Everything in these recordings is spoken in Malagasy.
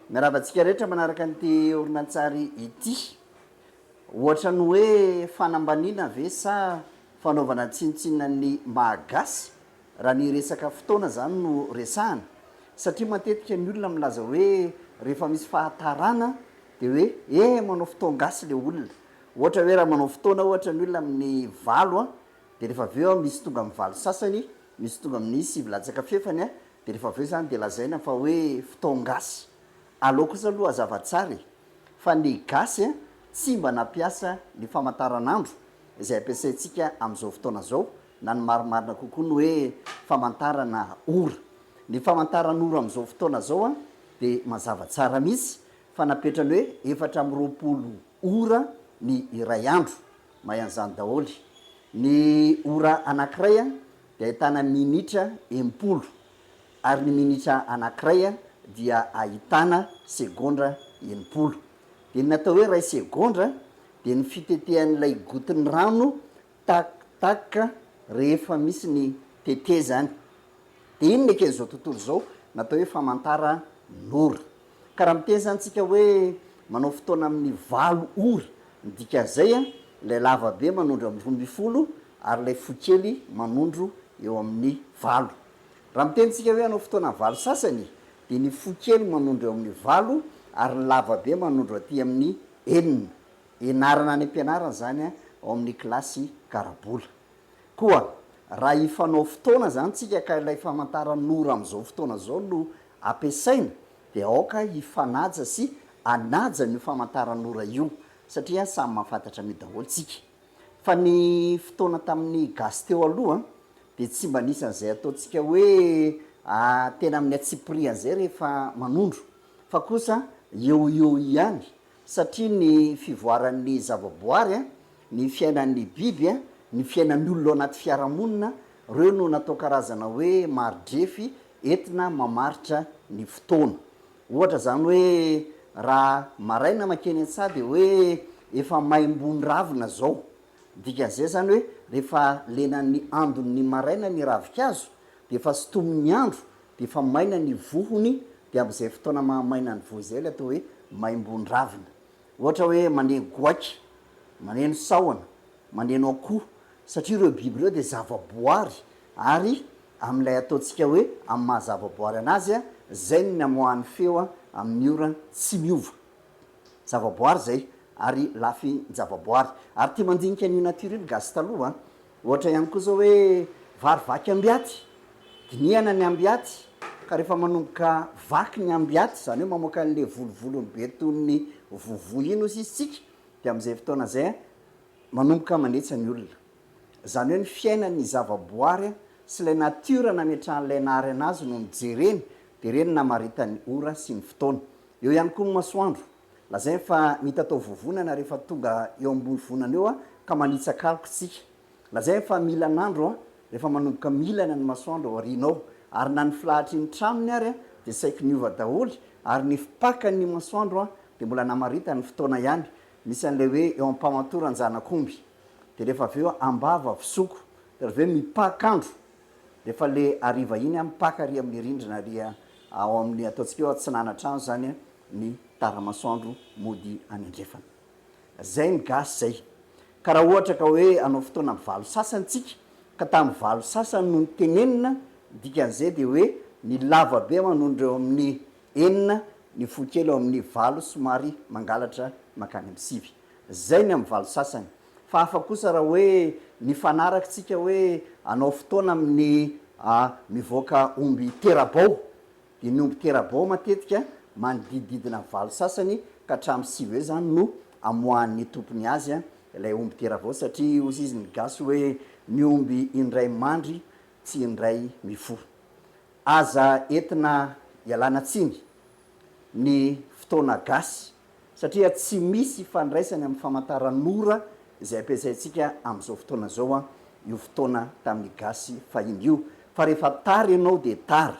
Miarahaba antsika rehetra manaraka an'ity horonantsary ity. Ohatra ny hoe fanambaniana ve sa fanaovana tsinontsinona ny maha gasy raha ny resaka fotoana izany no resahana? Satria matetika ny olona milaza hoe rehefa misy fahatarana dia hoe he manao fotoan-gasy ilay olona. Ohatra hoe raha manao fotoana ohatra ny olona amin'ny valo dia rehefa avy eo misy tonga amin'ny valo sasany, misy tonga amin'ny sivy latsaka fefany Dia rehefa avy eo izany dia lazaina fa hoe fotoan-gasy. Alou kosa aloha hazava tsara e! fa ny gasy an! tsy mba nampiasa ny famantaranandro izay ampiasaintsika amin'izao fotoana izao na ny marimarina kokoa ny hoe famantarana ora. Ny famantaran'ora amin'izao fotoana izao an! dia mazava tsara mihitsy fa napetrany hoe efatra amby roapolo ora ny iray andro. Mahay an'izany daholo. Ny ora anankiray dia ahitana minitra enimpolo, ary ny minitra anankiray dia ahitana segondra enimpolo. Dia ny atao hoe iray segondra dia ny fitetehan'ilay gotin'ny rano tak tak rehefa misy ny tetezany. Dia inona eken'izao tontolo izao no atao hoe famantaran'ora? Ka raha miteny izany tsika hoe manao fotoana amin'ny valo ora, ny dikan'izay an, ilay lava be manondro amin'ny roa ambin'ny folo ary ilay fohy kely manondro eo amin'ny valo. Raha miteny tsika hoe hanao fotoana valo sasany dia ny fohy kely manondro eo amin'ny valo ary ny lava be manondro aty amin'ny enina. Ianarana any am-pianarana izany an, ao amin'ny kilasy karabola. Koa raha hifanao fotoana izany tsika ka ilay famantaran'ora amin'izao fotoana izao no ampiasaina dia aoka hifanaja sy hanaja an'io famantaran'ora io satria samy mahafantatra an'io daholo tsika. Fa ny fotoana tamin'ny gasy teo aloha dia tsy mba nisy an'izay ataontsika hoe tena amin'ny antsipiriany izay rehefa manondro fa kosa eo ho eo ihany satria ny fivoaran'ny zavaboary, ny fiainan'ny biby, ny fiainan'ny olona ao anaty fiarahamonina, ireo no natao karazana hoe maridrefy Entina mamaritra ny fotoana. Ohatra izany hoe raha maraina makeny an-tsaha dia hoe efa maimbo ny ravina izao. Ny dikan'izay izany hoe rehefa lenan'ny andon'ny maraina ny ravinkazo dia efa sintomin'ny andro dia efa maina ny vohony dia amin'izay fotoana maha maina ny voa izay ilay atao hoe maimbo ny ravina. Ohatra hoe maneno goaika, maneno sahona, maneno akoho satria ireo biby ireo dia zava-boary ary Amin'ilay ataontsika hoe amin'ny maha zavaboary an'azy a, izay no namoahany feo a, amin'ny ora tsy miova. Zavaboary izay, ary lafin-javaboary. Ary tia mandinika an'io natiora io ny gasy taloha a. Ohatra ihany koa izao hoe, vary vaky ambiaty, dinihana ny ambiaty, ka rehefa manomboka vaky ny ambiaty, izany hoe mamoaka an'ilay volovolony be toy ny vovo iny hoy sisa isika, dia amin'izay fotoana izay a, manomboka manetsa ny olona. Izany hoe ny fiainan'ny zavaboary sy ilay natiora nametrahan'ilay naharena azy no nojereny, dia ireny namaritan'ny ora sy ny fotoana. Eo ihany koa ny masoandro. Lazainy fa mitatao vovonana rehefa tonga eo ambony vonana eo ka manitsaka aloka isika. Lazainy fa milan'andro rehefa manomboka milana ny masoandro ao aoriana ao. Ary na ny filahatry ny tranony ary dia saiky niova daholo ary ny fipakan'ny masoandro dia mbola namaritany ny fotoana ihany. Misy an'ilay hoe eo am-pamatoran-janak'omby. de refa avy eo ambava fisoko de avy eo mipaka andro refa le hariva iny a mipaka ary amle rindrina ary ao amle ataontsika hoe atsinana trano zany a ny taramasoandro mody any andrefana zay ny gasy zay ka raha ohatra ka hoe anao fotoana am valo sasany tsika ka tam valo sasany no nitenenina dikanze de hoe ny lava be manondro eo aminy enina ny fo kely eo aminy valo somary mangalatra makany am sivy. Zay ny am valo sasany. Fa hafa kosa raha hoe nifanaraky tsika hoe anao fotoana amin'ny mivoaka omby terabao. Dia ny omby terabao matetika manodidididina valo sasany ka hatramin'ny sivy eo zany no amoahan'ny tompony azy ilay omby terabao satria hozy izy ny gasy hoe ny omby indray mandry tsy indray mifoha. Aza entina ialana tsiny ny fotoana gasy satria tsy misy ifandraisany amin'ny famantaran'ora izay ampiasaintsika amin'izao fotoana izao an, io fotoana tamin'ny gasy fahiny io, fa rehefa tara ianao dia tara.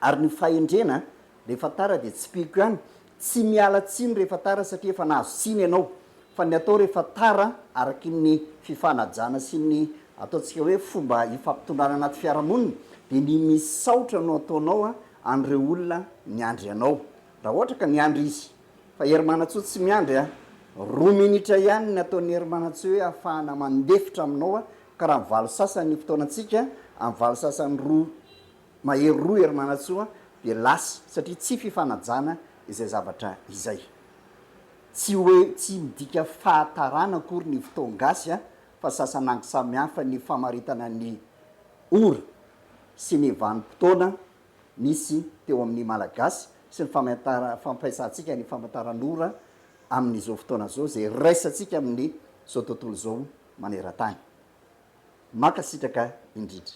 Ary ny fahendrena, rehefa tara dia tsipihiko ihany, tsy miala tsiny rehefa tara satria efa nahazo tsiny ianao, fa ny atao rehefa tara, araky ny fifanajana sy ny ataontsika hoe fomba ifampitondrana anaty fiarahamonina, dia ny misaotra no ataonao an'ireo olona niandry anao. Raha ohatra ka niandry izy. Fa Herimanantsoa tsy miandry a! Roa minitra ihany ny nataon'i Herimanantsoa hoe hafahana mandefitra aminao a! Ka raha valo sasany ny fotoanantsika, amin'ny valo sasany roa, mahery roa Herimanantsoa, dia lasa, satria tsy fifanajana izay zavatra izay. Tsy hoe tsy midika fahatarana akory ny fotoan-gasy a! Fa sasan'angy samihafa ny famaritana ny ora sy ny vanim-potoana nisy teo amin'ny Malagasy sy ny fampiasantsika ny famantaran'ora amin'izao fotoana izao izay iraisantsika amin'izao tontolo izao maneran-tany. Mankasitraka indrindra.